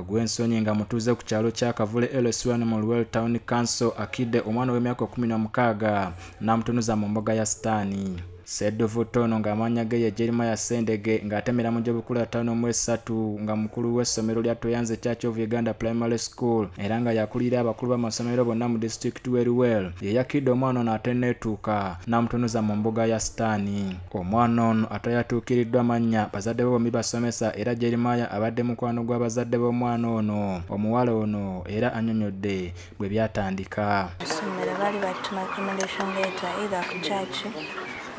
Ogwensonyi nga mutuuze ku kyalo kya Kavule LS1 mu Luwel Town Council akidde omwana w'emyaka kumi na mukaaga n'amutunuza mu mbuga ya sitaani. Ssedduvutto ono ng'amannya ge ye Jeremiah Sendege ng'atemera mu gy'obukulu ataano mu esatu nga mukulu w'essomero lya Tweyanze Church of Uganda Primary School era nga yakulira abakulu b'amasomero bonna mu disitulikiti w'e Luwel ye yakidde omwana ono atenneetuuka n'amutunuza mu mbuga ya sitaani. omwana ono atayatuukiriddwa mannya bazadde be bombi basomesa era jeremaya abadde mukwano gw'abazadde b'omwana ono omuwala ono era anyonyodde bwe byatandika essomero baali batuma accommodation letter either ku church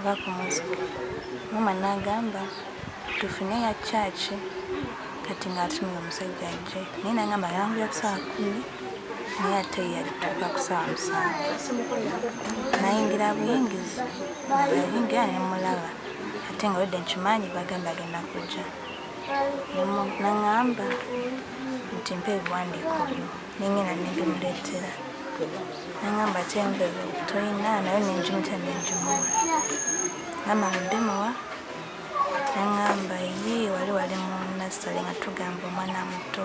oba ku music mama n'agamba tufune ya church kati ng'atumira omusajja ajje naye nangamba yangula ku saawa kumi naye ate yalituuka ku saawa musanvu nayingira buyingizi ayingira nemulaba ate nga wedde nkimanyi bagamba agenda kujja naŋamba nti mpa ebiwandiiko byo nengenda nebimuleetera naŋamba ate envebe toyina nayo nenjumita nenjumuwa gamba mudemuwa naŋamba ye wali wali munasale nga tugamba omwana muto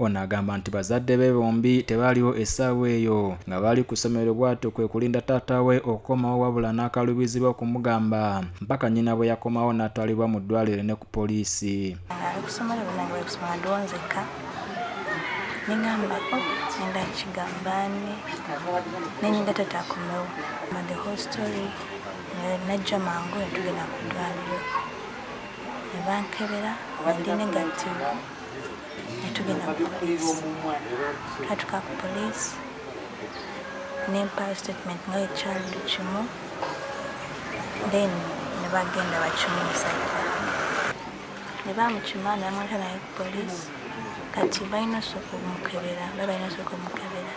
ono agamba nti bazadde be bombi tebaaliwo essaawa eyo nga baali ku ssomero bw'atyo kwe kulinda taata we okukomawo wabula n'akaluubirizibwa okumugamba mpaka nnyina bwe yakomawo n'atwalibwa mu ddwaliro ne ku poliisi nengamba oh, nenda kigambani nenyinda tata akomewo ma the whole story najja mangu netugenda ku ddwaliro ne bankebera nga ndi negativu ne tugenda ku poliisi twatuka ku poliisi ne mpaayo statement nga ekyalulu kimu then ne bagenda bakimu musajja ne bamukima ne bamuleta naye ku poliisi kati balina osooka omukebera ba balina osooka omukebera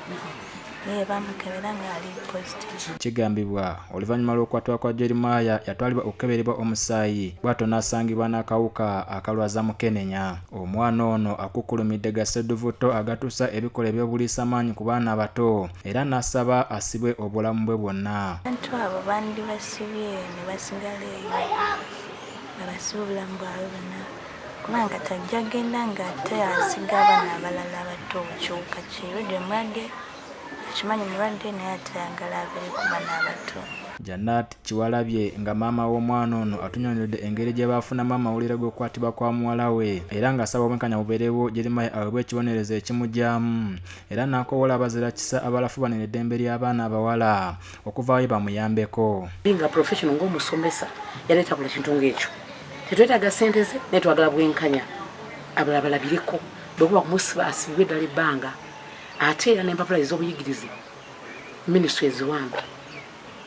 Eh, bamukebera ng'ali positive. Kigambibwa oluvannyuma lw'okukwatibwa kwa Jeremiah yatwalibwa okukeberebwa omusaayi bw'atyo n'asangibwa n'akawuka akalwaza mukenenya. Omwana ono akukkulumidde gassedduvutto agatuusa ebikolwa eby'obuliisa maanyi ku baana abato era n'asaba asibwe obulamu bwe bwonna. Abantu abo bandibasibye ne basigala eyo nga basiba obulamu bwabwe bonna. Kubanga kati ajja genda ng'ate asiga abaana abalala abato kyuka kirudde mulwadde akimanyi mulwadde naye atayagala abere ku baana abato. Janat Kiwalabye nga maama w'omwana ono atunyonyodde engeri gye baafunamu amawulire g'okukwatibwa kwa muwala we era ng'asaba obwenkanya bubeerewo Jeremiah aweebwe ekibonerezo ekimugyamu era n'akowoola abazira kisa abalafubanira eddembe ly'abaana abawala okuvaayo bamuyambeko nga professional ng'omusomesa yaleeta buli kintu ng'ekyo tetwetaaga sente ze naye twagala bwenkanya abala balabireko bwekuba kumusiba asibibwe eddala ebbanga ate era n'empapula ez'obuyigirize minisitule eziwamba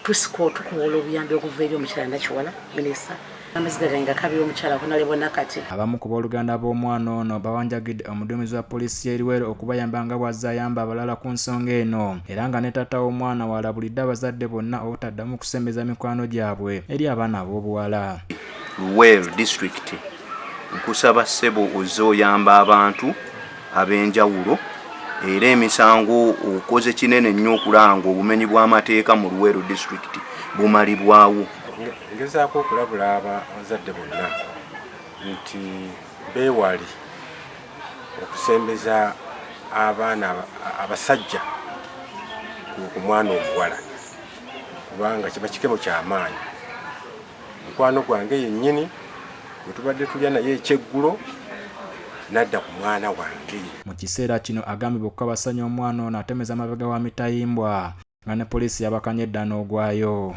tusiko tukuwola obuyambi okuva eri omukyala nakiwala minisita Abamu ku booluganda b'omwana ono bawanjagidde omuduumizi wa poliisi y'e Luweero okubayamba nga bw'azze ayamba abalala ku nsonga eno era nga ne taata w'omwana waalabulidde abazadde bonna obutaddamu kusembeza mikwano gyabwe eri abaana ab'obuwala. Luweero disitulikiti nkusaba ssebo ozze oyamba abantu ab'enjawulo era emisango okoze kinene nnyo okulanga obumenyi bw'amateeka mu Luweero disitulikiti bumalibwawo. Ngezaako okulabula abazadde bonna nti beewali okusembeza abaana abasajja ku mwana omuwala kubanga kiba kikemo kyamaanyi mukwano gwange yennyini gwe tubadde tulya naye ekyeggulo nadda ku mwana wange mu kiseera kino agambibwa okukabasanya omwana ono atemeza amabega wa mitayimbwa nga ne poliisi yabakanye edda n'ogwayo